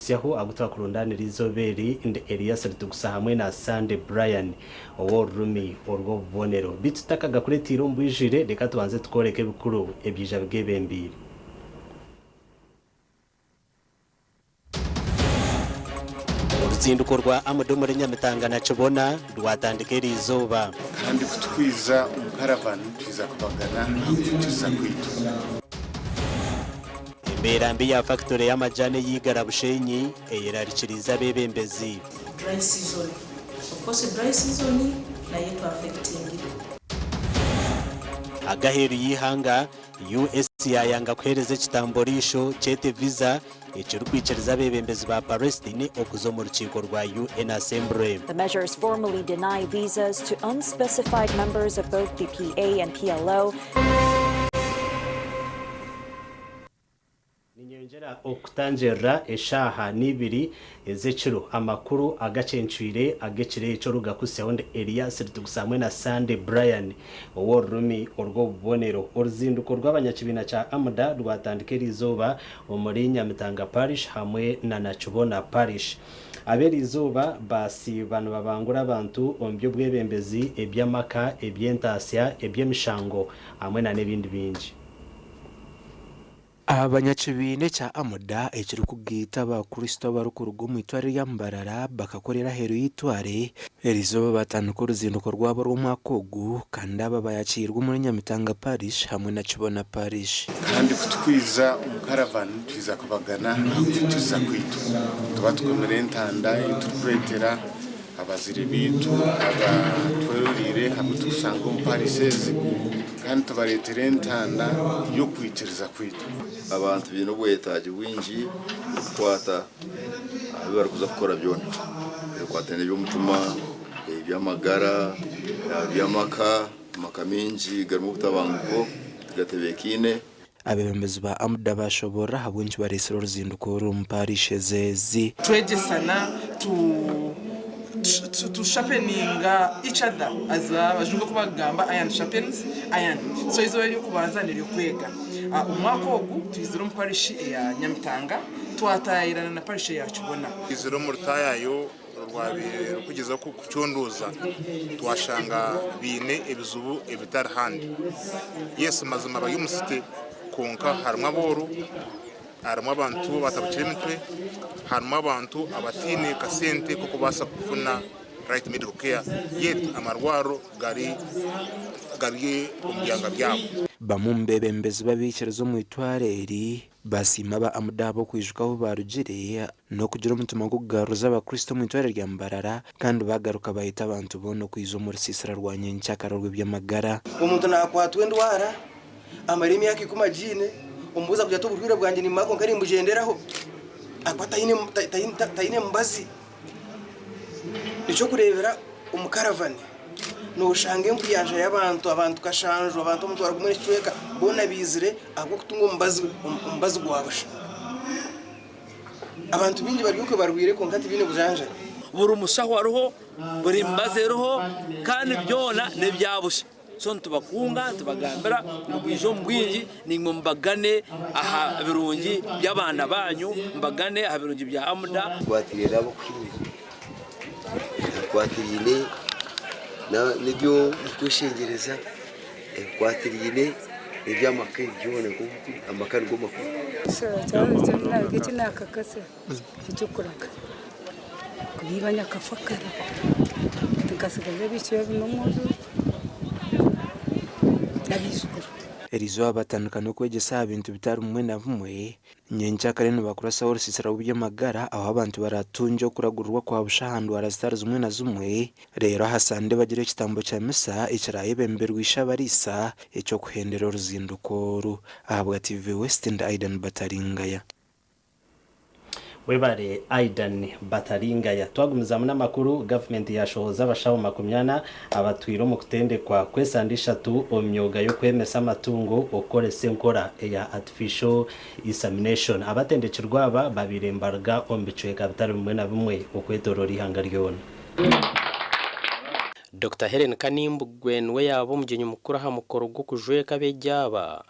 Tsyaho agu twakurundaanira eizooba eri, ndi Elias Rutugusa hamwe na Sandy Brian ow'orurimi orw'obubonero. Beitu tutakagakureteire omu bwijwire, reka tubanze tukooreke ebikuru ebyaija bigebembeire. Oruzinduko rwa Amd omuri Nyamitanga na Kibona rwatandika eri izooba. Kandi ku turikwija omu karavani, nitwija kubagana aha kutukiza kwaitu. Embeera mbi ya fakitore y'amajaani ey'e Igara Bushenyi eyerarikiriize abeebembezi. Dry season of course dry season nayo etu affectingire. Ag'aheeru y'eihanga, US yaayanga kuheereza ekitambo riisho kyete Visa ekirikwikiriza abeebembezi ba Palestine okuza omu rukiiko rwa UN Assembly. The measures formally deny visas to unspecified members of both the PA and PLO. Ninyeyongyera okutangirira eshaaha neibiri ez'ekiro amakuru agacencwire ag'ekiro ekyo Rugaku Sound Elias Rutugisa hamwe na Sande Brian ow'orurimi orw'obubonero. Oruzinduko rw'abanyakibiina kya AMDA rwatandika eriizooba omuri Nyamitanga Parish hamwe na Nakibona Parish. Ab'eriizooba baasiiba nibabangura abantu omu by'obwebembezi, eby'amaka, eby'entaasya, eby'emishango hamwe na n'ebindi bingi. Abanyakibiina ekya Amuda ekirikugaita Abakristo abarikuruga omu itware rya Mbarara bakakorera aheeru y'eitware eri zooba batandika oruzinduko rwabo rw'omwaka ogu kandi aba bayakiirwe omuri Nyamitanga Parish hamwe na Kibona Parish. Kandi ku twiza omu Caravan twiza kubagana aha kwitiriza kwaitu. Tuba tukomire entanda ei turikureetera Abazire baitu aba tweroreire hamwe tukusanga omu parish ezi kandi tubaretera entanda y'okwikiriza kwaitu. Abantu baine obwetagi bwingi kukwata aha bi bari kuza kukora byona ebikwataine n'eby'omutima, eby'amagara, eby'amaka. Amaka mingi garimu obutabanguko, tigatebekaine. Abeebembezi ba AMDA baashoboorora ahabw'enki bareetsire oruzinduko oru omu paarish eze ezi. Twegyesana tu tu sharpeninga each other as abajungu oku bakugamba iron sharpens iron so eizooba ery'okubanza n'ery'okwega omwaka ogu twizire omu parish eya Nyamitanga twataayairana na parish eya Kibona. Twizire omu rutaayayo Rwabaire rurikugyezaho kukucunduuza twashanga baine ebizibu ebitari handi. Yes mazima bari omu city kwonka harimu abooro, harimu abantu abatabukire emitwe, harimu abantu abataine kasente k'okubaasa kufuna right medical care yet amarwariro gari gari omu byanga byabo. Bamwe omu beebembezi b'abaikiriza omu itwaro eri Baasiima aba Amuda ahabw'okwijuka ahu baarugire n'okugira omutima gw'okugaruriza Abakristo omu itwariro rya Mbarara kandi baagaruka baayeta abantu boona okwija omu rusiisira rwa nyenkyakara orw'eby'amagara. Omuntu naakwatwa endwara amare emyaka ikumi agiine, omubuuza kugira ati, Oburwaire bwangye nimbumara kwonka nimbugyenderaho? Akuba taine mubazi. Eky'okureebera omu karavani nooshanga enkuyanja y'abantu, abantu kashanju, abantu omutwaro gumwe n'ekicweka boona baizire ahabw'okutunga omubazi omubazi gwa busha. Abantu baingi bari okwe barwaire kwonka tibaine bujanjabi. Buri mushaho ariho, buri mibazi eriho kandi byona n'ebya busha. So nitubakunga nitubagambira ngu bwije omu bwingi naimwe mubagane aha birungi by'abaana baanyu, mubagane aha birungi bya Amuda. Nkwatiraine ab'okuhimira, ebikwatiraine n'eby'okweshengyereza, ebikwatiraine n'eby'amaka, ebi byona, amaka nigo makuru. eky'okuraga kubiiba nyakafa kare nkatsigaza ebicweka bina omu nju n'abaijukuru. Erizooba batandika n'okwegyesa aha bintu bitari bimwe na bimwe. Nyenkya kare nibakurasaho orusiisira rw'eby'amagara ahu abantu baratungye okuragurirwa kwa busha aha ndwara zitari zimwe na zimwe. Reero aha Sande bagira ekitambo kya misa ekirayebemberwa Ishabariisa eky'okuhendera oruzinduko oru. Ahabwa TV West ndi Aidan Bataringaya. Webare Aidan Bataringaya. Twagumizaamu n'amakuru, Gavumenti yaashohoza abashaho makumi ana abatwire omu kutendekwa kw'esande ishatu omu myooga y'okwemesa amatungo okukoresa enkora eya Artificial Isamination. Abatendekirwe aba babaire nibaruga omu bicweka bitari bimwe na bimwe okwetoroora eihanga ryoona. Dokita Hellen Kanimbugwe niwe yaaba omugyenyi mukuru aha mukoro gw'okujweeka abeegi aba.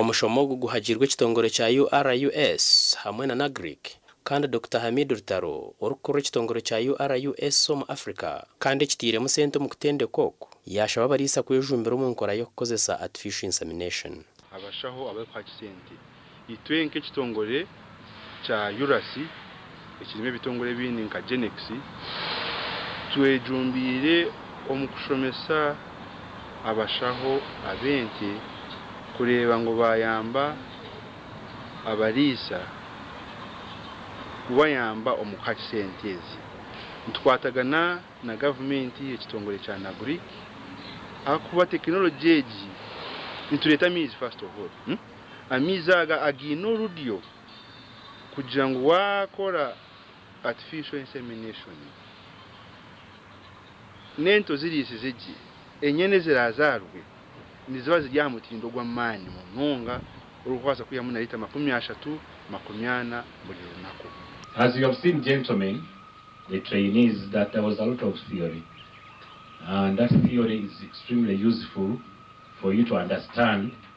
Omushomo ogu guhagiirwe ekitongore kya URUS hamwe na NAGRIC kandi Dokita Hamid Rutaro orikukurira ekitongore kya URUS omu Africa kandi ekitairemu sente omu kutendeka oku, yaashaba abariisa kwejumbira omu nkora y'okukozesa Artificial Insemination. Abashaho abarikuha kisente. Itwe nk'ekitongore kya URAC ekirimu ebitongore ebindi nka GENEX, twejumbiire omu kushomesa abashaho ab'ente kureeba ngu baayamba abariisa kubayamba omu kuha sente ezi. Nitukwatagana na gavumenti, ekitongore kya NAGRIC ahakuba tekinologi egi, nitureeta amaizi first of all. Amaizi aga againe orudyo kugira ngu waakora artificial insemination, n'ento ziriisize gye, enyana eziraazaarwe niziba ziri aha mutindo gw'amaani munonga orikubaasa kwihamu na liita makumi ashatu, makumi ana buri runaku. As you have seen gentlemen, the trainees, that there was a lot of theory and that theory is extremely useful for you to understand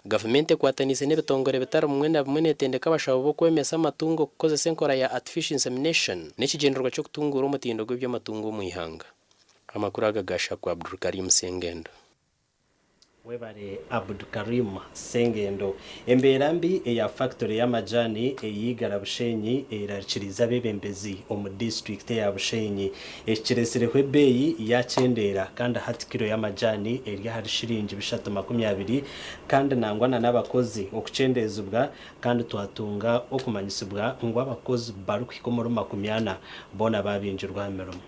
Gavumenti ekwataniise n'ebitongore bitari bimwe na bimwe netendeka abashaho b'okwemesa amatungo kukozesa enkora ya Artificial Insemination n'ekigyendererwa ky'okutunguura omutindo gw'eby'amatungo omu ihanga. Amakuru aga gaasha ku Abdulkarim Ssengendo. Webare Abdulkarim Ssengendo. Embeera mbi eya factory y'amajaani eyi Igara Bushenyi eyirarikiriize abebembezi omu district eya Bushenyi Eki kiretsireho ebeeyi yaakyendeera kandi hati kiro y'amajaani eri ahari shiringi bishatu makumi abiri kandi nangwa na n'abakozi okukyendeezibwa kandi twatunga okumanyisibwa ngu abakozi barikuhika omuri makumi ana boona baabingirwe aha mirimo.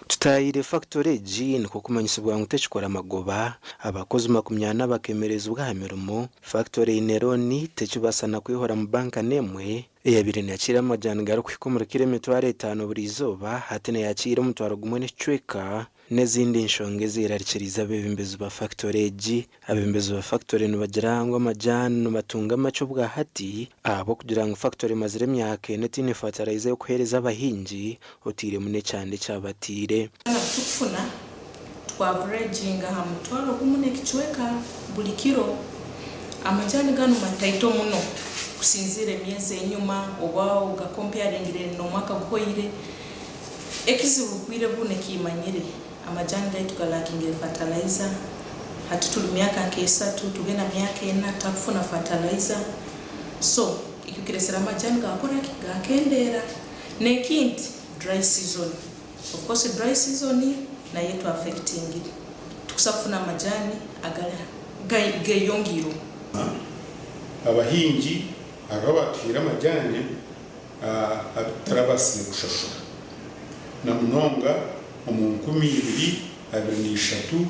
Tutaahire fakitori egi nikwo kumanyisibwa ngu tekikora magoba, abakozi makumi ana bakeemerezibwa aha mirimo, fakitori eine looni tekibaasa na kwehoramu banka n'emwe, Eyabaire neekiira amajaani garikuhika omuri kiro emitwaro etaano buri izooba, hati neeyakiira omutwaro gumwe n'ekicweka, n'ezindi nshonga ezeerarikiriize abeebembezi ba fakitori egi. Abeebembezi ba fakitori nibagira ngu amajaani nibatunga makye obwahati ahabw'okugira ngu fakitori emazire emyaka ena etaine fataraiza y'okuheereza abahingi, Oteiremu n'ekyande ekya bataire. Twena ku tukufuna twa vuraginga aha mutwaro gumu n'ekicweka buri kiro. Amajaani ganu mataito muno kusinziira emyezi enyuma oba ogakompayaringire n'omwaka guhoire. Ekizibu bwire bu nikimanyire. Amajaani gaitu galakingire fatalaiza. Hati turi myaka nk'esatu tube na myaka ena tutakufuna fatalaiza. So ekyo kiretsire amajaani gakora ki? Gakendeera. Neki nti dry season of course dry season nayo etu affectingire tikusa kufuna amajani agari geyongeireho. Abahingi hariho abatuhaire amajani abitarabasire kushashura na munonga omu nkumi ibiri abiri na ishatu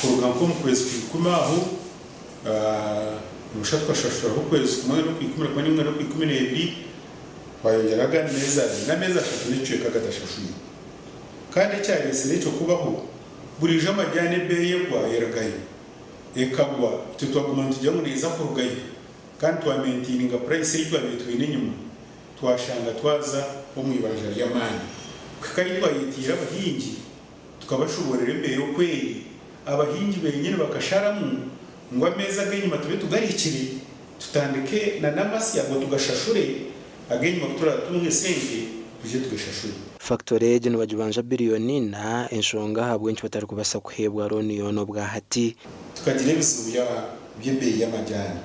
kuruga nkomu kwezi kwa ikumi aho nabasha tukashashuraho okwezi kumwe nokwikumi na kumwe ninga nokwikumi nebiri Twayongyera agandi meezi abiri n'ameezi ashatu n'ekicweka agatashashwirwe. Kandi ekyareetsire ekyo kubaho, burijo amajaani ebeeyi egwa erugayo. Ekagwa, itwe twaguma nitugira ngu neeza kurugayo kandi twamentiininga purayisi ei twabaire twine enyima twashanga twaza omu ibanja ry'amaani kuhika ahi twayetiire abahingi. Tukabashoboorera embeera oku eri, abahingi benyini bakasharamu ngu ameezi ag'enyima tube tugarikire, tutandike na n'amasi ago tugashashure, ag'enyima ku turaabe tutunga esente twije tugashashure. Fakitori egi nibagibanja biriyoni ina, enshonga ahabw'enki batarikubaasa kuheebwa rooni yoona obwahati. Tukagira ebizibu by'ebeeyi y'amajaani,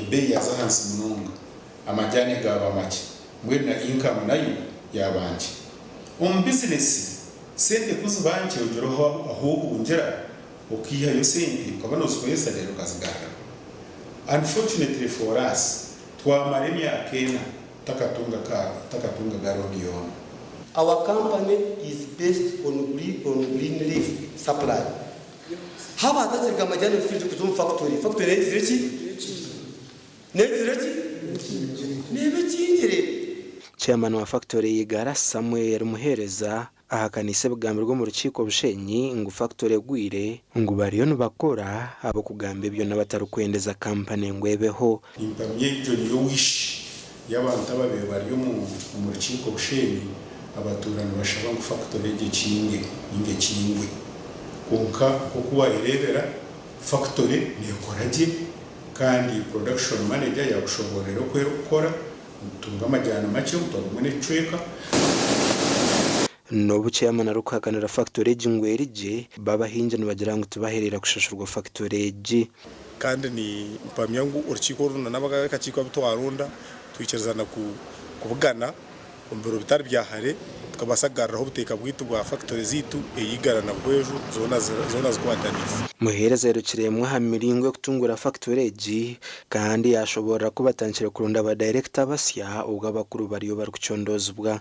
ebeeyi yaaza ahansi munonga. amajaani gaaba makye, mbwenu na inkamu nayo yaaba nkye. Omu bizinesi, sente ku ziba nkye ogiroho ahu ohungira okaihayo sente okaba noozikoresa reero okazigaruraho. Unfortunately for us, twamara emyaka ena tutakatunga ka tutakatunga ga looni yoona. Our company is based on green on green leaf supply. Haba hatatsirika amajaani omu field kuza omu factory, factory eyizire ki? Nebigire ki? Nebikingire. Chairman wa factory ya Igara, Samuel Muhereza ahakaniise ebigambirwe omu rukiiko Bushenyi ngu factory egwire, ngu bariyo nibakora ahabw'okugamba ebyo n'abatarikwendeza company ngu ebeho. Nimpamya egyo niyo wish y'abantu ababaire bari omu omu rukiiko Bushenyi abatuura nibashaba ngu factory egyo ekinge ninga ekingwe. Kwonka nk'oku wayereebera factory nekora gye Kandi production manager yaakushoboororera oku erikukora, nitutunga amajaani makye, butwa bumwe n'ekicweka. N'obu chairman arikuhakanira factory egi ngu eri gye, bo abahingi nibagira ngu tibahereire kushashurwa factory egi. Kandi ni mpamya ngu orukiiko orunana, ab'akakiiko abu twaronda, twikiriza na kubugana. Omu biro bitari bya hare, tukabaasa kugaruraho obuteeka bwaitu bwa fakitori zaitu e Igara na Bweju zoona zikwataniise. Muheereza airukire emwe aha miringo y'okutunguura fakitori egi kandi yaashoboorora ku batandikire kuronda badayirekita basya obwo abakuru bariyo barikucondoozibwa.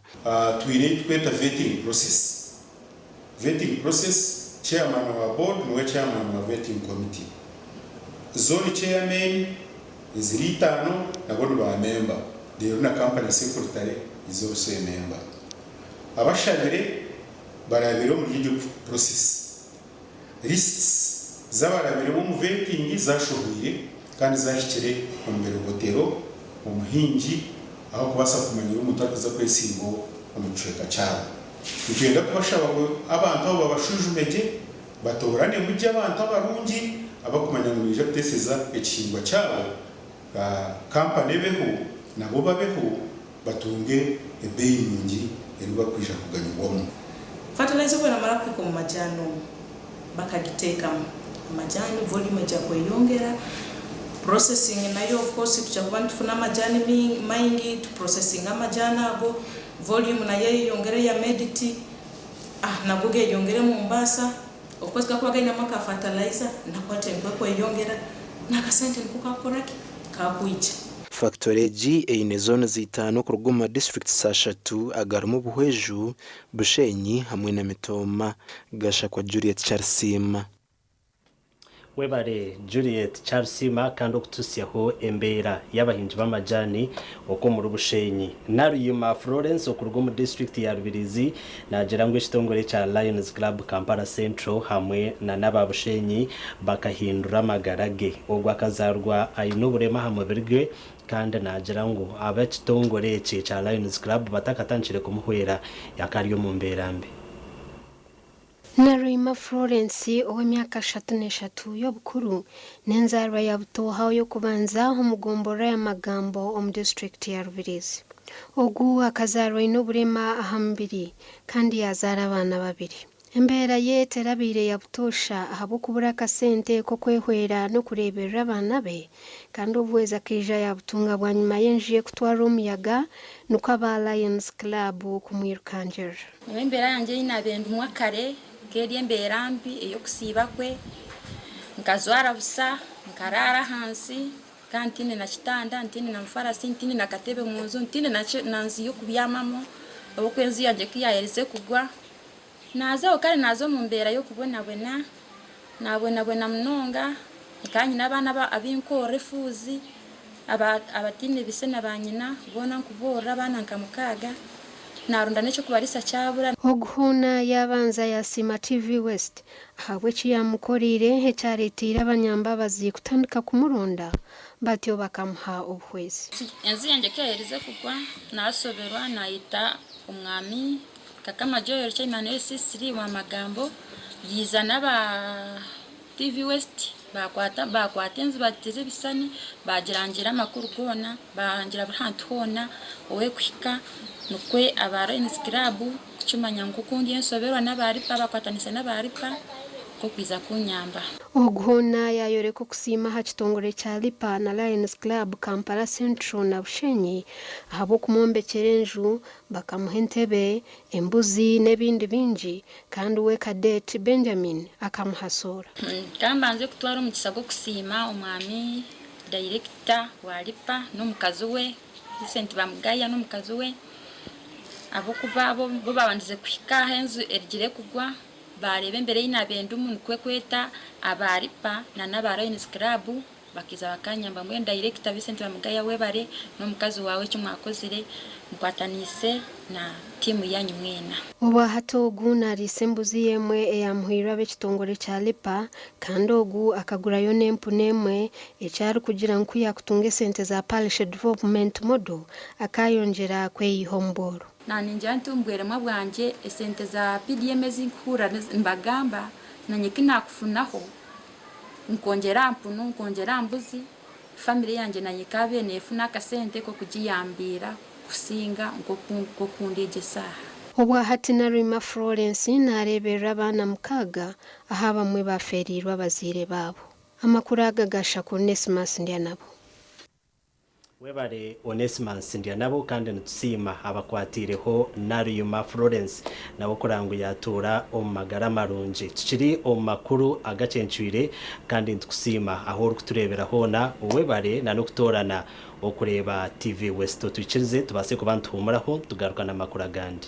Twine ebi turikweta vetting process Vetting process, Chairman wa Board niwe Chairman wa Vetting Committee. Zone Chairmen eziri itaano nabo ni ba memba reero na Company Secretary niza obusememba. Abashabire barabire omuri egyo process Lists z'abarabire b'omu vetting zashohwire kandi zahikire omu birobotero, omuhingi ahakubaasa kumanyira omuntu arikuza kwesimba omu kicweka kyabo. Nitwenda kubashaba ngu abantu abo babashwijumye gye, batooranemu gye abantu abarungi abakumanya ngu nibaija kuteeseza ekihingwa kyabo. ba kampani ebeho nabo babeho batunge ebeeyi nungi ei barikwija kuganyirwamu. Fatalayiza obu eramara kuhika omu majaani omu bakagiteekamu, amajaani volume egya kweyongera, processing nayo of course tugya kuba nitufuna amajaani maingi tu processinge amajaani ago, volume nayo eyeyongere eya mediti, nago geyongere Mombasa. Okwezi kakuba kainemu aka fertilizer nako hati enkwe ekweyongera n'akasente niko kakukora ki? Kakwija. Factory egi eine zones itaano kuruga omu ma districts ashatu agarimu Buhweju, Bushenyi hamwe na Mitooma. Gashakwa Juliet Charisiima. Webare Juliet Charisiima kandi okututsyaho embeera y'abahingi b'amajaani okw'omuri Bushenyi. Naruyima Florence okuruga omu disiturikiti ya Rubirizi naagira ngu ekitongore kya Lions Club Kampala Central hamwe na n'aba Bushenyi bakahindura amagara ge. Ogwo akazaarwa aine oburema aha mubiri gwe kandi naagira ngu ab'ekitongore ekye kya Lions Club batakatandikire kumuhwera yakari omu mbeera mbi. Nalweima Florence, ow'emyaka ashatu n'eshatu y'obukuru, n'enzaarwa ya Butooha oy'okubanza omu gomborora ya Magambo omu disiturikiti ya Rubirizi. Ogu akazaarwa aine oburema aha mubiri kandi yaazaara abaana babiri. Embeera ye terabaire ya butoosha ahabw'okubura akasente k'okwehwera n'okureeberera abaana be, kandi obuhwezi akaija yaabutunga bwanyima y'enju ye kutwarwa omuyaga, nikwo aba Lions Club kumwirukangirira. Nyowe embeera yangye ei naabaire ndimu kare nk'eri embeera mbi ey'okusiiba kwe, nkajwara busa, nkaraara ahansi kandi ntiine na kitanda, ntiine na mufarasi, ntiine na katebe mu nju, ntiine na nju y'okubyamamu ahabw'okuba enju yangye ku yaayerize kugwa, naaza aho kandi naaza omu mbeera y'okubonabona Naabwenabwena munonga, nkaba nyine abaana abu nkuhorera efuuzi abataine baise na baanyina, boona nkuboorora, abaana nka mukaaga. Naaronda n'eky'okubariisa kyabura. Ogu hoona yaabanza yaasiima TV West ahabw'eki yaamukoreire ekyareeteire abanyambabazi kutandika kumuronda batyo bakamuha obuhwezi. Ensi yangye ku yaaherize kugwa, naashoberwa, naayeta Omwami Kakama Joel Kyeimanire Sisiri wa Magambo yaiza n'aba TV West baakwata enzibatiti z'ebishushani baagirangiira amakuru goona baahangira buri hantu hoona ow'ekuhika nikwo aba Lions Club kukimanya ngu ku ndi enshoberwa n'aba Lipa baakwatanise n'aba Lipa nk'okwija kunyamba. Ogu hoona yaayoreka okusiima aha kitongore kya Lipa na Lions Club Kampala Central na Bushenyi ahabw'okumwombekyera enju Bakamuha entebe, embuzi, n'ebindi bingi, kandi we Cadet Benjamin akamuhasoora. Ka mbanze kutwara omugisa gw'okusiima Omwami Dayirekita wa LIPA n'omukazi we, Vincent Bamugaya n'omukazi we, ahabw'okuba bo baabandize kuhika ahu enju erugire kugwa, baareeba embeera ei naabaire ndimu, nikwo kweta aba LIPA nana aba Lions Club Bakaija bakanyamba mbwenu dayirekita Vincent Bamugaya webare n'omukazi waawe eki mwakozire mukwataniise na tiimu yaanyu mwena. Obwahati ogu nariisa embuzi y'emwe eyamuhairwe ab'ekitongore kya LIPA kandi ogu akagurayo n'empunu emwe eki arikugira ngu ku yaakutunga esente za Parish Development Model akaayongyera kweiha omu bworo. Naaningira nti omu bweremwa bwangye esente za PDM ezi nkuhurira nibagamba, nanye eki naakufunaho. nkongyera aha mpunu, nkongyera aha mbuzi, famire yangye nayo ekaabaire neefuna akasente k'okugiyambiira kusinga nk'oku ndi egi eshaaha. Obwa hati Naruhima Florence naareeberera abaana mukaaga ahu abamwe baafeereirwe abazaire baabo. Amakuru aga ga Shakur Onesmus Ndyanabo. Webare Onesmus Ndyanabo kandi nitusiima abakwatiireho Naluyima Florence nawe okureeba ngu yatuura omu magara marungi. Tukiri omu makuru agacencwire kandi nitukusiima ahu orikutureebera hoona. Webare na n'okutoorana okureeba TV West. Otwikirize tubaase kuba nituhuumuraho nitugaruka n'amakuru agandi.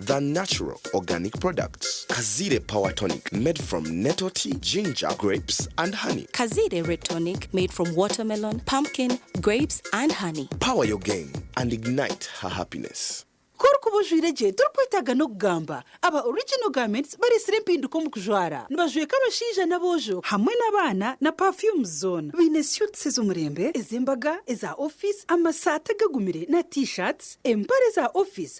The natural organic products, Kaziire power tonic made from nettle tea, ginger, grapes and honey. Kaziire red tonic made from watermelon, pumpkin, grapes and honey. Power your game and ignite her happiness. Ku orikuba ojwaire gye torikwetaaga n'okugamba. Aba Original Garments bareetsire empinduka omu kujwara. Nibajweka abashaija n'aboojo hamwe n'abaana na perfumes zoona. Baine suits ez'omurembe, ez'embaga, eza office, amasaati agagumire na T-shirts, empare za office,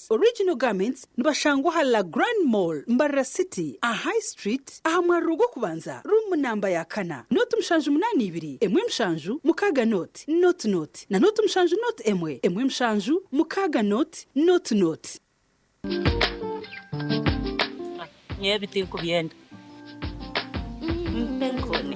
Original Garments nibashangwa aha La Grande Mall, Mbarara City, aha High Street, aha mwariro gw'okubanza, ruumu namba ya kana, nooti mushanju munaana ibiri, emwe mushanju, mukaaga nooti, nooti nooti, na nooti mushanju nooti emwe, emwe mushanju, mukaaga nooti, nooti nooti. Nyowe ebi tinkubyenda. Mpa enkoni.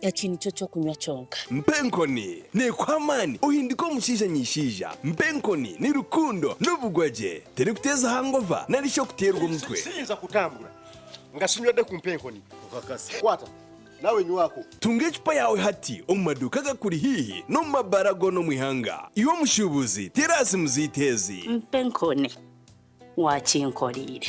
Eki nikyo ky'okunywa kyonka. Mpa enkoni. Neekuha amaani ohindike omushaija ny'eishaija. Mpa enkoni ni rukundo n'obugwa gye. Teri kuteeza hangova nari shi okuteerwa omutwe. Siyinza kutambura nga sinywedde ku mpa enkoni. Okakasa. Kwata. Naawe nywako. Tunga ecupa yaawe hati omu maduuka agakuri haihi n'omu mabaara goona omu ihanga. Iwe omushuubuzi, teera aha simu zaitu ezi. Mpa enkoni. Waakinkoreire.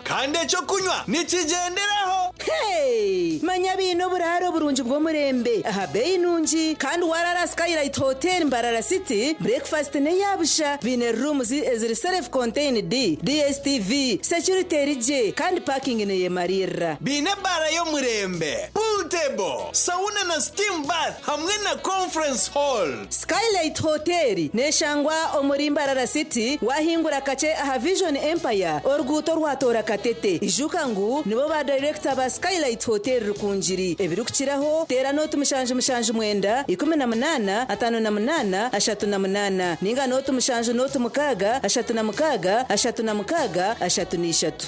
Kandi eky'okunywa nikigyenderaho. Hee! Manya baine oburaaro burungi bw'omurembe aha beeyi nungi, kandi waaraara aha Skylight Hotel Mbarara City, bureekifasiti n'eya busha, baine rooms eziri self contained, DSTV, security eri gye, kandi parking neeyemariirira. Baine baara y'omurembe, pool table, sauna na steam bath hamwe na conference hall. Skylight Hoteeri neeshangwa omuri Mbarara City, waahingura kakye aha Vision Empire oruguuto rwatoora Katete. Ijuka ngu nibo ba dayirekita ba Skylight Hoteeri Rukungiri. Ebirikukiraho, teera n'otu mushanju mushanju mwenda, ikumi na munaana, ataano na munaana, ashatu na munaana, nainga n'otu mushanju n'otu mukaaga, ashatu na mukaaga, ashatu na mukaaga, ashatu na ishatu.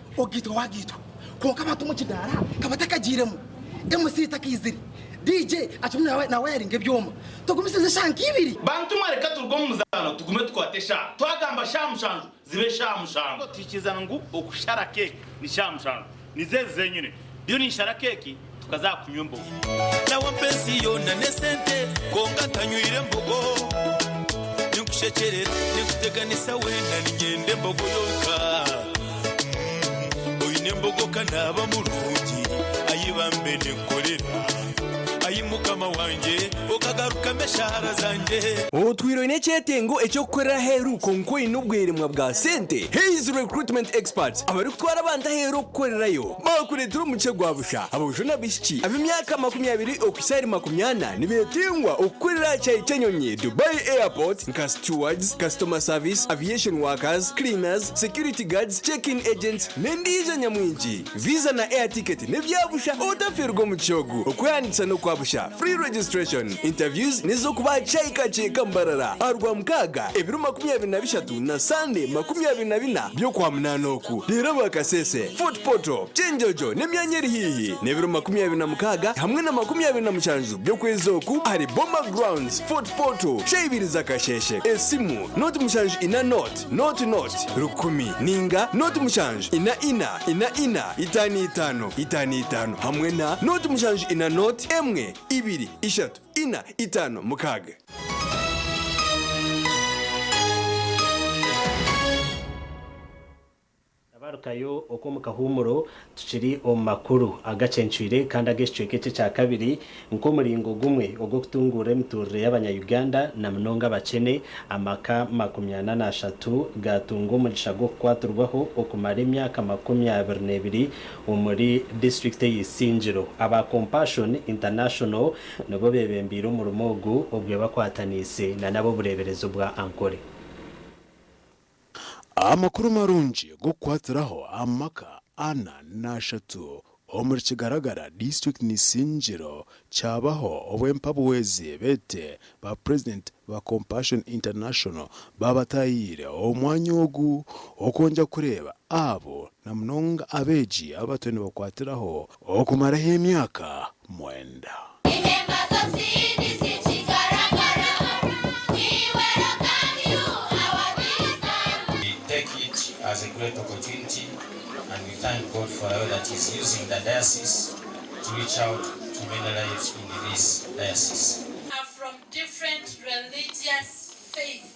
Ogaitwa wagaitwa kwonka abantu omu kidaara ka batakagiiremu, MC takaizire, DJ acumire na na wayaringa ebyoma. Togumisiriza eshaaha nka ibiri. Bantu mwe reka turuge omu muzaano tugume tukwate eshaaha. Twagamba shaaha mushanju zibe shaaha mushanju. Tuhikiiriza ngu okushara keeki ni shaaha mushanju. Nizo ezi zenyine. Ndiyo ninshara keeki. Tukaza kunywa embogo. Nawa pensi yoona n'esente kwonka ntanywire embogo Ninkushekyerera ninkuteganisa wena ninyenda embogo yonka mm Oyine embogo kanaaba murungi ayi bambe ninkukorera Ayi mukama wangye okagarukamu eshaara zangye Otwire oyine ekyetengo eky'okukorera aheeru kwonka oyine obweremwa bwa sente? Hays Recruitment Experts abarikutwara abantu aheeru okukorerayo Baakureetera omukye gwa busha aboojo n'abaishiki ab'emyaka makumi abiri okuhitsya ahari makumi ana nibeetingwa okukorera aha kyaayi ky'enyonyi Dubai Airport nka stewards, customer service, aviation workers, cleaners, security guards, check-in agents n'endiijo nyamwingi. Visa na air ticket n'ebya busha otafiirwe omukye ogu. Okwehandiikisa n'okwa busha, free registration. Interviews n'ez'okuba aha kyaayi ka Kyeka Mbarara aha Rwamukaaga, ebiro makumi abiri na bishatu. Rukungani na Sande makumi abiri na bina by'Okwamunaana oku, reero aba Kasese, Fort Portal, Kyenjojo n'emyanya eri haihi, n'ebiro makumi abiri na mukaaga hamwe na makumi abiri na mushanju by'okwezi oku ahari Boma Grounds, Fort Portal, shaaha ibiri za kasheeshe. Esimu, nooti mushanju ina nooti, nooti nooti, rukumi, nainga nooti mushanju ina ina, ina ina, itaano itaano, itaano itaano, hamwe na nooti mushanju ina nooti, emwe, ibiri, ishatu. Ina, itaano, mukaaga. Nabarukayo okwo omu kahuumuro tukiri omu makuru agacencwire kandi ag'ekicweka eki ekya kabiri nk'omuringo gumwe ogw'okutunguura emiturire y'abanya Uganda na munonga abakyene, amaka makumi ana n'ashatu gaatunga omugisha gw'okukwatirwaho okumara emyaka makumi abiri n'ebiri Omuri disiturikiti eya Isingiro, aba Compassion International nibo bebembeire omurimo ogu obwe bakwataniise na n'ab'obureeberezi obwa Ankole. Amakuru marungi g'okukwatiraho amaka ana n'ashatu omuri Kigaragara, disiturikiti n'Isingiro Kyabaho obu empabuwezi bete ba president ba Compassion International babatayire omu mwanya ogu okwongya kureba abo na munonga abegi abato nibakwatiraho okumaraho emyaka mwenda. to reach out to many lives in this diocese. are from different religious faith.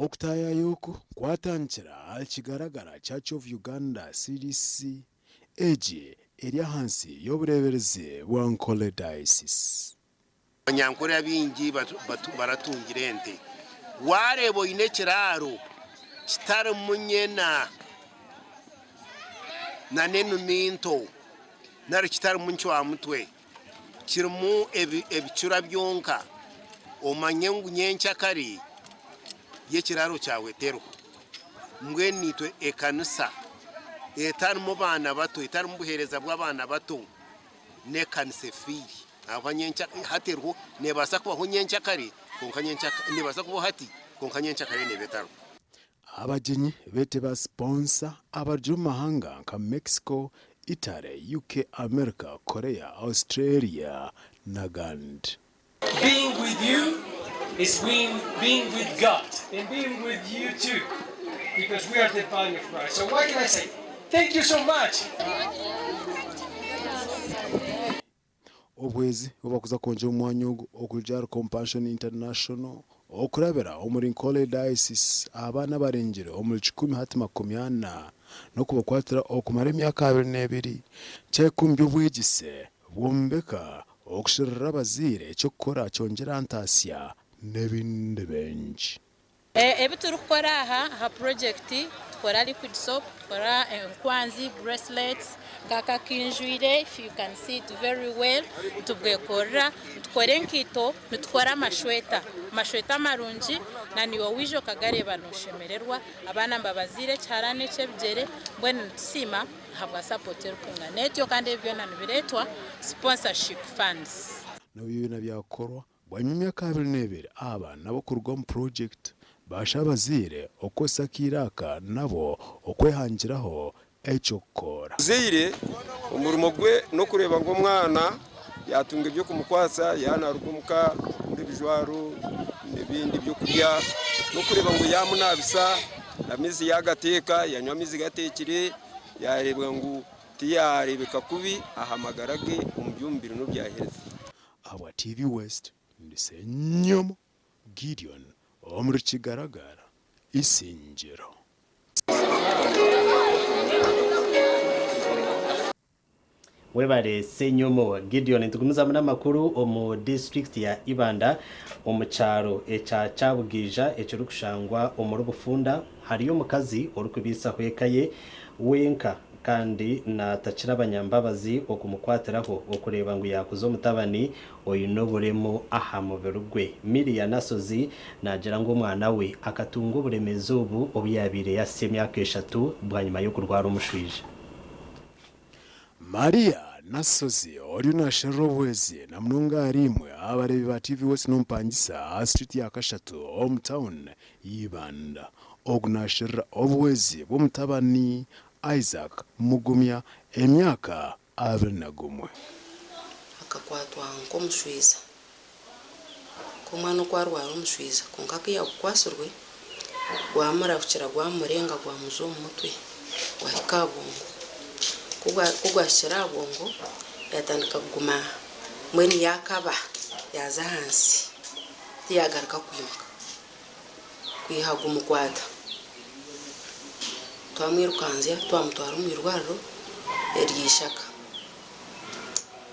Okutaayaaya oku kwatandikira ahari kigaragara Church of Uganda CDC egi eri ahansi y'obureeberezi bwa Nkole Diocese. Abanyankore abaingi baratungira ente. Waareeba oine ekiraaro kitarimu nyena nana enumi nto nari kitarimu ncwamutwe kirimu ebicura byonka, omanye ngu nyencakare y'ekiraaro kyawe teriho. Mbwenu itwe ekanisa etarimu baana bato, etarimu buheereza bw'abaana bato N'ekanisa efiire ahabwa nyenkyakare kandi hati eriho nebaasa kubaho nyenkyakare kwonka nyenkyakare nebaasa kubaho hati kwonka nyenkyakare neba etariho. Abagyenyi beete ba siponsa abari omu mahanga nka Mexico, Italy, UK, America, Korea, Australia n'agandi. Obwezi obu barikuza kwongyera omwanya ogu okurugira ahari Compassion International okurabira omuri Nkole Diocese aha baana abarengire omuri kikumi hati makumi ana n'okubakwatira okumara emyaka abiri n'ebiri kya ikumi by'obwegyese Bwombeka okusherura abazaire, eky'okukora, kyongyera ntaatsya n'ebindi bingi. Ebi turikukora aha aha purojekiti, tukora liquid soap, tukora enkwanzi, bracelets, nk'aka aku njwire, if you can see it very well, nitubwekorera, nitukora enkaito, nitukora amashweta, amashweta amarungi na niiwe waija okagareeba nooshemererwa, abaana mbabaziire ekiharani eky'ebigyere, mbwenu nitusiima. Habwa support erikungana etyo kandi ebi byona nibiretwa sponsorship funds. N'obu byona byakukorwa, bwanyima emyaka abiri n'ebiri aba nabo kuruga omu project bashaba abazaire okukozesa akaire aka nabo okwehangiraho eky'okukora. Omuzaire omurimo gwe n'okureeba ngu omwana yatunga eby'okumukwatsa yaaba naaruga omuka n'ebijwaro n'ebindi by'okurya n'okureeba ngu yaamunaabisa amaizi yaagateeka yaanywa amaizi gateekire yaareeba ngu tiyaareebeka kubi aha magara ge omu by'omubiri n'ebya health. Ahabwa TV West, ndi Senyomo Gideon omuri Kigaragara Isingiro. Webare Senyomo Gideon. Nitugumizamu n'amakuru omu disiturikiti ya Ibanda omu kyaro ekya Kyabugaija ekirikushangwa omuri Bufunda hariyo omukazi orikubiitsaho eka ye wenka kandi naatakira abanyambabazi okumukwatiraho okureeba ngu yaakuza omutabani oine oburemu aha mubiri gwe. Miria Nashozi naagira ngu omwana we akatunga oburemeezi obu obu yaabaire yahisya emyaka eshatu bwanyima y'okurwara omushwija. Maria Nasozi oriyo naasherura obuhwezi na munonga ahari imwe aha bareebi ba TV West n'omupangisa aha street ya Kashatu omu town y'Ibanda. Ogu naasherura obuhwezi bw'omutabani Isaac Mugumya emyaka abiri na gumwe. Akakwatwa nk'omushwiza Ku omwana oku arwara omushwiza kwonka ku yagukwatsirwe gwamurahukira gwamurenga gwamujwa omu mutwe gwahika aha bwongo. Ku ku gwahikire aha bwongo yatandika kuguma mbwenu yaakaba yaaza ahansi tiyagaruka kwimuka kwiha gumukwata. Twamwirukanzya twamutwara omu irwariro ery'eishaka.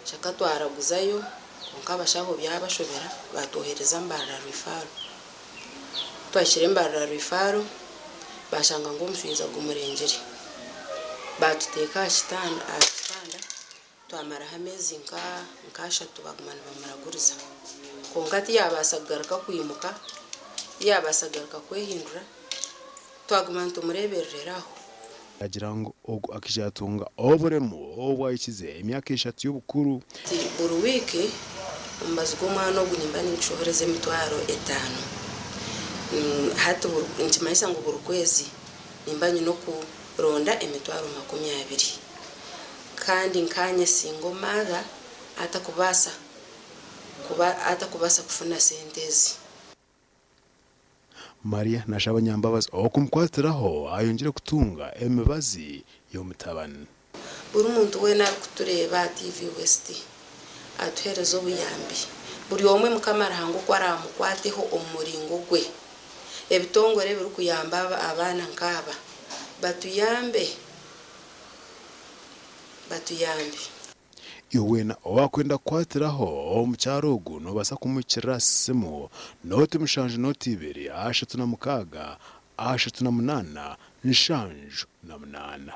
Ishaka twaraguzayo Kwonka abashaho byabashobera baatwohereza Mbarara Rwifaaro. Ku twahikire Mbarara Rwifaaro baashanga ngu omushaija gumurengire. Baatuteeka aha kitanda aha kitanda twamaraho ameezi nk'ashatu baaguma nibamuraguriza. Kwonka tiyaabaasa kugaruka kwimuka, tiyaabaasa kugaruka kwehindura. Twaguma nitumureeberera aho. Yaagira ngu ogu akaija yatunga oburemu obu ahikize emyaka eshatu y'obukuru. Ati, Buri wiiki omubazi gw'omwana ogu nimba ningishohoreza emitwaro etaano. Hati nikimanyisa ngu buri kwezi nimba nyine okuronda emitwaro makumi abiri. Kandi nkaanye singa omaatha atakubaasa kuba atakubaasa kufuna sente ezi. Maria nashaba nyambabazi okumukwatiraho ayongire kutunga emibazi y'omutabani. Buri muntu weena arikutureeba aha TV West atuhereze obuyambi. Buri omwe Mukama Ruhanga oku araamukwateho omu muringo gwe. Ebitongore ebirikuyamba abaana nkaaba batuyambe batuyambe. Iwe weena owaakwenda kukwatiraho mukyara ogu noobaasa kumuhikirira aha simu, nooti mushanju nooti ibiri ashatu na mukaaga ashatu na munaana nshanju na munaana.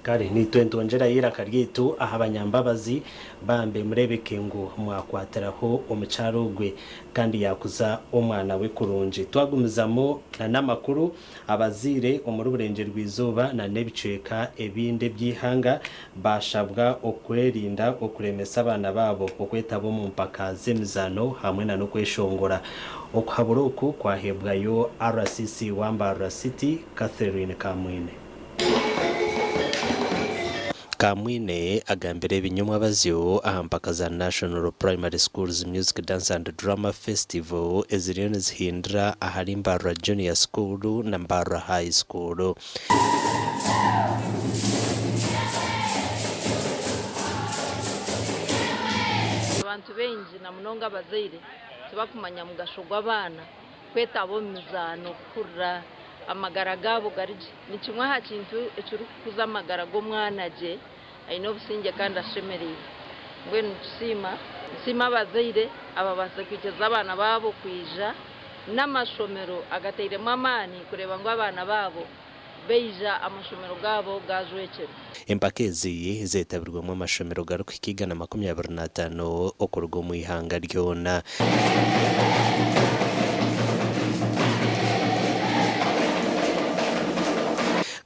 Kare naitwe nitongyerayo eiraka ryaitu aha banyambabazi, bambe mureebeke ngu mwakwatiraho omukyara ogwe kandi yaakuza omwana we kurungi. Twagumizamu n'amakuru. Abazaire omuri Burengyeerwaizooba na n'ebicweka ebindi eby'eihanga baashabwa okwerinda okuremesa abaana baabo okwetaba omu mpaka z'emizaano hamwe na n'okweshongora. Okuhabura oku kwaheebwayo RCC wa Mbarara City, Catherine Kamwine. Kamwine agambire ebinyomwa abazyo aha mpaka za National Primary Schools Music Dance and Drama Festival eziriyo nizihindura ahari Mbarara Junior School na Mbarara High School. Abantu baingi na munonga abazaire tibakumanya mugasho gw'abaana. kwetaba omu mizaano kuhurira amagara gaabo gari gye nikimwe aha kintu ekirikukuza amagara g'omwana gye aine obusingye kandi ashemereire. Mbwenu nitusiima nsiima abazaire ababaasize kwikiriza abaana baabo kwija n'amashomero agatairemu amaani kureeba ngu abaana baabo baija amashomero gaabo gaajwekyera. Empaka ezi zeetabirwemu amashomero garikuhika igana makumi abiri n'ataano okuruga omu ihanga ryona.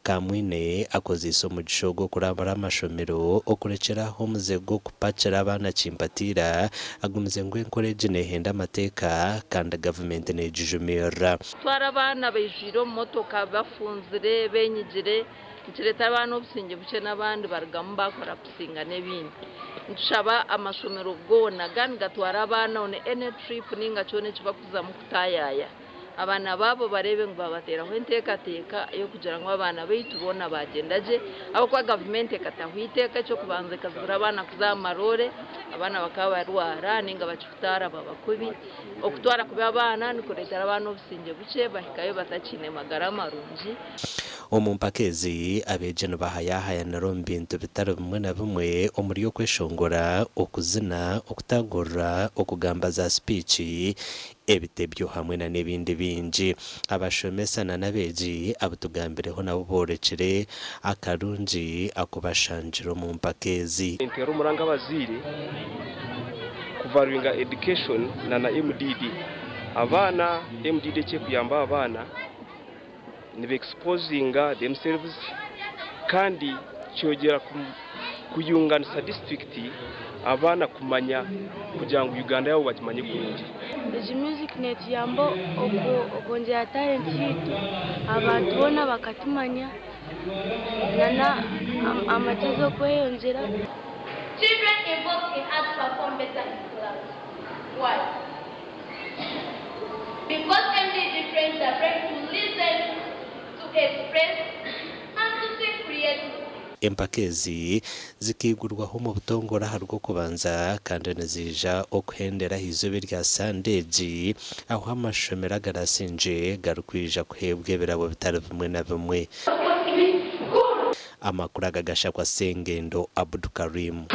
Kamwine akozeise omugisha ogu okurambura amashomero, okurekyera aho omuze gw'okupakira abaana kimpatiira, agumize ngu enkora egi neehenda amateeka kandi gavumenti neegijumirira. Kutwara abaana baijwire omu motoka bafunzire, benyigire nikireetera abaana obusingye bukye n'abandi barugamu bakora kusinga n'ebindi. Nitushaba amashomero goona gaba nigatwara abaana on any trip ninga kyona eki bakuzamu kutaayaaya abaana baabo bareebe ngu babateeraho enteekateeka ey'okugira ngu abaana baitu boona baagyenda gye ahabw'okuba gavumenti ekataho eiteeka eky'okubanza ekazibira abaana kuza aha maroore abaana bakaba barwara ninga bakikutaara babakubi. Okutwara kubi abaana nikureetera abaana obusingye bukye, bahikayo batakiine magara marungi. Omu mpaka ezi, abeegi nibahayahayanira omu bintu bitari bimwe na bimwe omuri okweshongora, okuzina, okutaagurura, okugamba za sipiici, ebitebyo hamwe n'ebindi bingi. Abashomesa na n'abeegi abu tugambireho nabo boorekire akarungi aku bashangire omu mpaka ezi. Enteera omuranga abazaire ku valuinga education na na MDD abaana. MDD eki ekuyamba aba baana ni be exposinga themselves kandi kyogyera ku. kuyunganisa disiturikiti, abaana kumanya kugira ngu Uganda yaabo bagimanye kurungi. Egi music netuyamba okwongyera talent yaitu abantu boona bakatumanya nana amagezi okweyongyera. Children involved in arts perform better in clubs. Why? Because MDD trains the brain to listen, to express and to think creatively. Empaka ezi zikaigurwaho omu butongore aha Rwokubanza kandi niziija okuhendera aha izooba erya Sande egi ahu amashomero agarasingye garikwija kuheebwa ebirabo bitari bimwe na bimwe. Amakuru aga gashakwa Sengendo Abdukarim.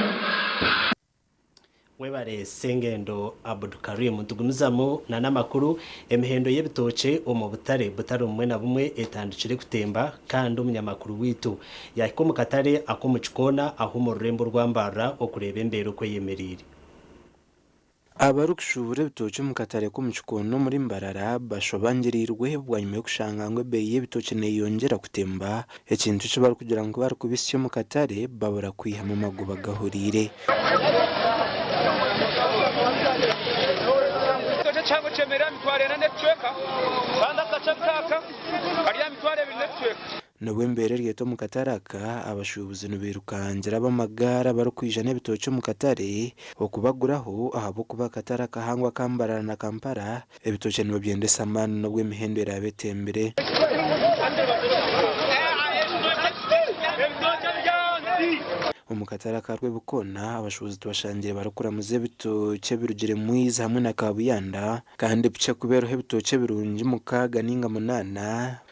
Webare Sengendo Abdu Karim. Nitugumizamu nana amakuru, Emihendo y'ebitookye omu butare butare obumwe na bumwe etandikire kutemba kandi omunyamakuru waitu yahika omu katare ak'omu kikoona ahu omu rurembo orwambarra okureeba embeera oku eyemereire. Abarikushuubura ebitookye omu katare k'omu kikoona omuri Mbarara bashobangirirwe bwanyima y'okushanga ngu ebeeyi y'ebitookye neyongyera kutemba Ekintu eki barikugira ngu barikubitsya omu katare babura kwihamu amagoba gahuriire. N'obu embeera eri etyo omu katare aka, abashuubuzi nibairukangira ab'amagaari abarikwija n'ebitookye omu katare okubaguraho ahabw'okuba akatare akahango aka Mbarara na Kampala Ebitookye nibabyendesa amaani n'obu emihendo eraabe etembire. Omu katare aka Rwebikoona, abashuubuzi tubashangiire barikuramuza ebitookye ebirugire Mwiizi hamwe na Kaabuyanda kandi bukye kubeeraho ebitookye ebirungi mukaaga nainga munaana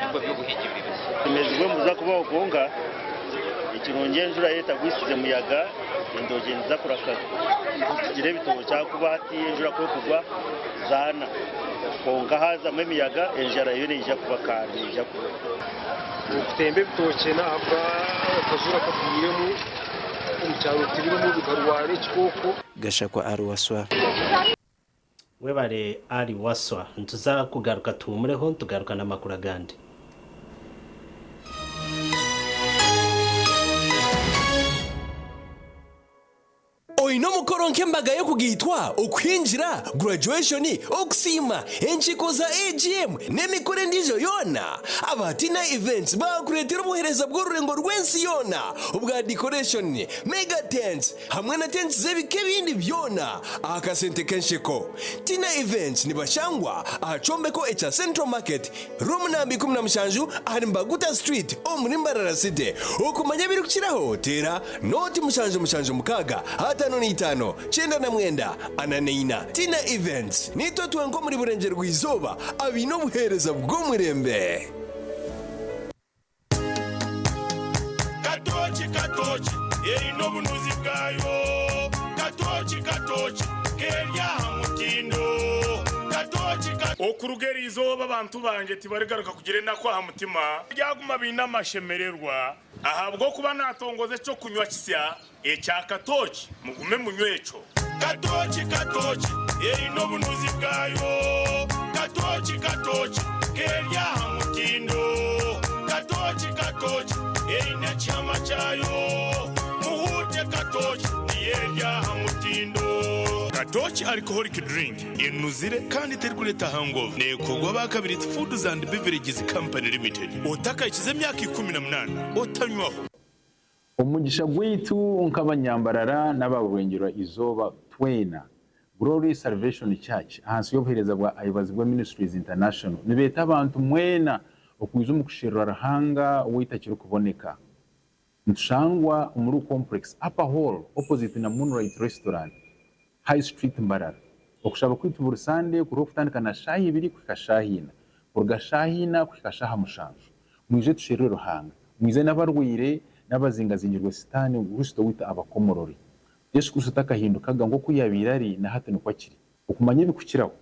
nibwo by'obuhigi buri busa. Tumezibwe nibuza kubaho kwonka ekirungi enjura etagwisize muyaga entookye niziza kuraka zitugire ebitookye ahakuba hati enjura ku ekugwa zaana kwonka haazamu emiyaga enjara yo neija kuba kandi neija kuba. Okutemba ebitookye n'ahabwa akazuura kagwiremu omu kyaro tibirimu bikarwara ekikooko. Gashakwa ari Waswa. Webare Ali Waswa. Nituza kugaruka tuhumureho nitugaruka na makuru agandi. Oine omukoro nk'embaga y'okugaitwa, okuhingira, graduation, okusiima, enkiiko za AGM, n'emikoro endiijo yoona? Aba Tina Events baakureetera obuheereza bw'orurengo rw'ensi yoona obwa decoration, mega tents, hamwe na tenti z'ebika ebindi byona aha kasente k'ensheko. Tina Events nibashangwa aha kyombeko ekya Central Market, room namba ikumi na mushanju ahari Mbaguta Street omuri Mbarara City. Okumanya ebirikukiraho teera nooti mushanju mushanju mukaaga ataano na itaano kyenda na mwenda ana na ina. Tina Events niitwe twenka omuri Burengyerwa Izooba abaine obuheereza bw'omureembe. Katooki katooki eine obunuzi bwayo Katooki katooki k'eri aha mutindo Katooki ka. Okuruga eri izooba abantu bangye tibarigaruka kugira enaku aha mutima. Baryaguma baine amashemererwa. Ahabw'okuba naatongoza eky'okunywa kisya Ekya katooki mugume munywe ekyo. Katooki katooki eine obunuzi bwayo. Katooki katooki k'eri aha mutindo. Katooki katooki eine ekihama kyayo. Muhuute katooki niyo eri aha mutindo. Katooki alcoholic drink enuzire kandi terikureeta hangover nekorwa ba Kabiriti Foods and Beverages Company Limited. Otakahikize emyaka ikumi na munaana otanywaho. Omugisha gwaitu nk'abanyambarara n'aba Rubengera Izooba twena, Glory Salvation Church ahansi y'obuheereza bwa Ayebazibwe Ministries International nibeeta abantu mwena okwija omu kusherura Ruhanga ow'eitakirikuboneka. Nitushangwa omuri Complex Upper Hall opposite na Moonlight Restaurant. High Street Mbarara. Okushaba kwaitu buri Sande kuriho kutandika na shaaha ibiri kuhika shaaha ina. Kuruga shaaha ina kuhika shaaha mushanju. Mwije tusherure Ruhanga. Mwije n'abarwaire, n'abazingazingirwe Sitaane ngu Kristo waitu abakomorore. Yesu Kristo takahindukaga, nk'oku yaabaire ari, na hati nikwo akiri. Okumanya ebikukiraho.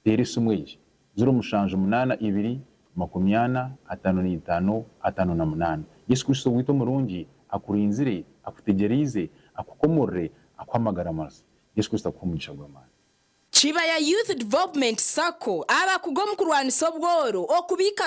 Teera esimu egi, ziro mushanju munaana ibiri makumi ana ataano n'eitaano ataano na munaana. Yesu Kristo owaitu omurungi akurinzire, akutegyereize, akukomorere, akuhe amagara mazi. Yesu Kristo akuhe omugisha gw'amaani. Kibaya Youth Development Sacco abakuga omu kurwanisa obworo, okubiika